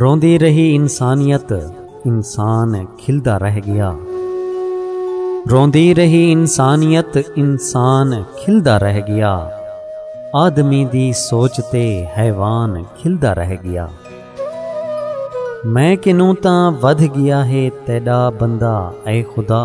روندی رہی انسانیت انسان کھلدا رہ گیا روندی رہی انسانیت انسان کھلدا رہ گیا آدمی دی سوچ تے حیوان کھلدا رہ گیا میں کنوں تاں ودھ گیا ہے تیڈا بندہ اے خدا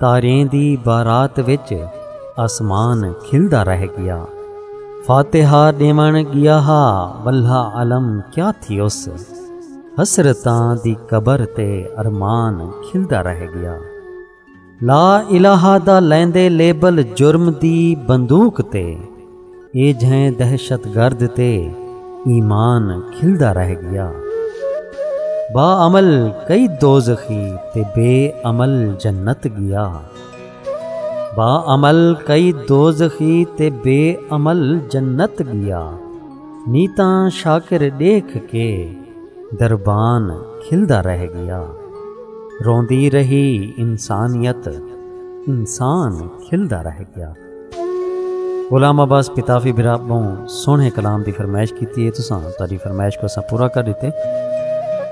تاریں دی بارات وچ آسمان کھلدا رہ گیا فاتحہ ڈیون گیا ہا واللہ عالم کیا تھی اس حسرتاں دی قبر تے ارمان کھلدا رہ گیا لا الہ دا لیندے لیبل جرم دی بندوق تے اے جھیں دہشت گرد تے ایمان کھلدا رہ گیا با عمل کئی دوزخی تے بے عمل جنت گیا با عمل کئی دوزخی تے بے عمل جنت گیا نی تاں شاکر ڈیکھ کے دربان کھلدا رہ گیا روندی رہی انسانیت انسان کھلدا رہ گیا غلام عباس پتافی برا بہوں سونے کلام دی فرمائش کیتی ہے تو ساں تاری فرمائش کو ساں پورا کر دیتے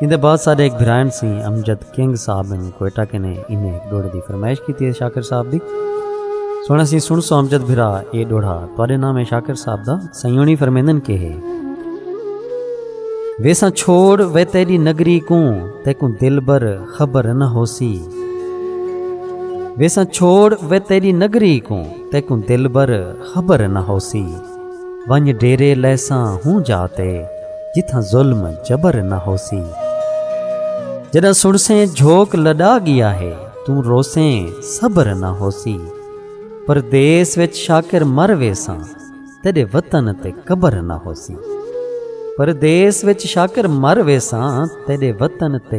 ان دے بعد سارے ایک بھرائن سی امجد کنگ صاحب ان کوئٹہ کے نے انہیں ایک ڈوڑے دی فرمائش کیتی ہے شاکر صاحب دی سونا سی سن سو امجد بھرا اے ڈوڑا تارے نام ہے شاکر صاحب دا سیونی فرمیندن کے ہے ویسا چھوڑ وے تیری نگری کوں تیکوں دل بر خبر نہ ہوسی ویساں چھوڑ وے تیری نگری کوں تیکوں دلبر خبر نہ ہوسی ونج ڈیرے لیساں ہوں جاتے جتھاں ظلم جبر نہ ہوسی جداں سنسیں جھوک لڈا گیا ہے توں روسیں صبر نہ ہوسی پردیس وچ شاکر مر ویساں تیرے وطن تے قبر نہ ہوسی پردیس وچ شاکر مر ویساں تیرے وطن تے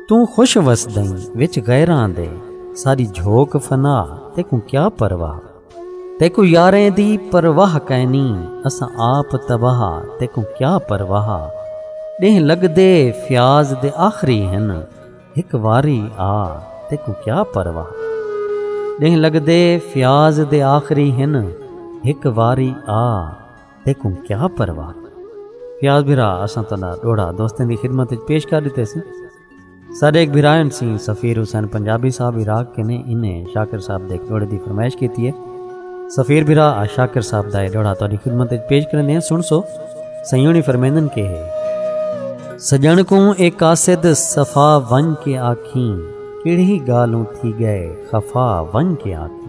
توں خوش وسدئیں وچ غیراں دے ساری جھوک فنا تیکوں کیا پرواہ تیکوں یاریں دی پرواہ کائنی اساں آپ تباہ تیکوں کیا پرواہ ڈینہہ لگدے فیاض دے آخری ہن ہک واری آ تیکوں کیا پرواہ ڈینہہ لگدے فیاض دے آخری ہن ہک واری آ تیکوں کیا پرواہ فیاض بھرا اساں تلا ڈوڑا دوستیں دی خدمت وچ پیش کر دیتے سی سارے ایک بھرائن سی سفیر حسین پنجابی صاحب عراق کے نے انہیں شاکر صاحب دے ڈوڑے دی فرمائش کیتی ہے سفیر بھرا آ شاکر صاحب دائے ڈوڑا تاری خدمت وچ پیش کرنے ہیں سن سو سیونی فرمیندن کے ہے سجن کو ایک قاصد صفا ون کے آکھیں کیڑی گالوں تھی گئے خفا ون کے آکھیں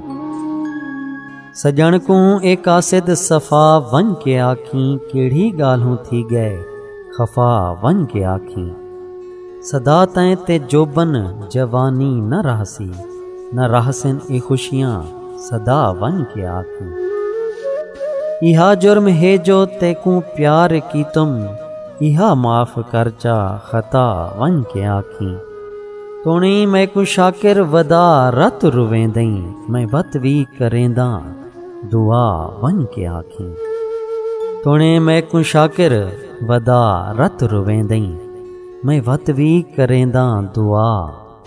سڄݨ کوں اے قاصد صفا ونڄ کے آکھیں کیڑھی ڳالھوں تھی ڳئے خفا ونڄ کے آکھیں سدا تئیں تے جوبن جوانی نہ رہسی نہ رہسن اے خوشیاں سدا ونڄ کے آکھیں ایہا جرم ہے جو تیکوں پیار کیتم ایہا معاف کر چا خطا ونڄ کے آکھیں تونیں میکوں شاکر ودا رت رویندیں میں وت وی کرینداں دعا ونج کے آکھیں تونیں میکوں شاکر ودا رت رویندیں میں وت وی کرینداں دعا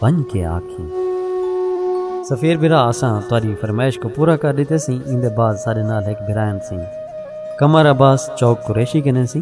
ونج کے آکھیں سفیر بھرا اساں تاری فرمائش کو پورا کر دیتے سی ان دے بعد سارے نال ایک بھرائن سی کمر عباس چوک قریشی کنے سی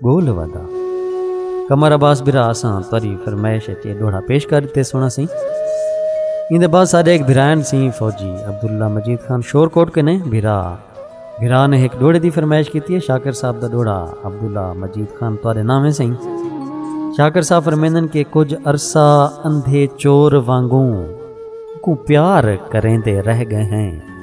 گول ودا کمر عباس برا اساں تری فرمائش اچ اے ڈوڑا پیش کر دیتے سونا سی ان دے بعد سارے ایک بھرائن سی فوجی عبداللہ مجید خان شور کوٹ کے نے بھرا بھرا نے ایک ڈوڑے دی فرمائش کیتی ہے شاکر صاحب دا ڈوڑا عبداللہ مجید خان تارے نامے سی شاکر صاحب فرمیندن کے کچھ عرصہ اندھے چور وانگوں کو پیار کریں دے رہ گئے ہیں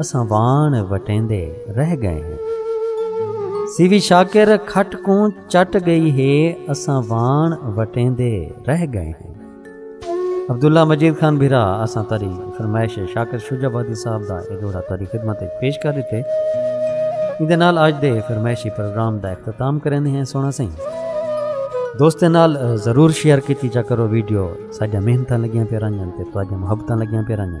اساں وان وٹیندے رہ گئے ہیں سیوی شاکر کھٹ کوں چٹ گئی ہے اساں وان وٹیندے رہ گئے ہیں عبداللہ مجید خان بھرا اساں تری فرمائش شاکر شجا بادی صاحب دا اے جوڑا تری خدمت پیش کر دیتے اندے نال آج دے فرمائشی پروگرام دا اختتام کریں ہیں سونا سائیں دوست نال ضرور شیئر کیتی جا کرو ویڈیو ساجا محنتاں لگیاں پہ رانجن تے تواجہ محبتاں لگیاں پہ رانجن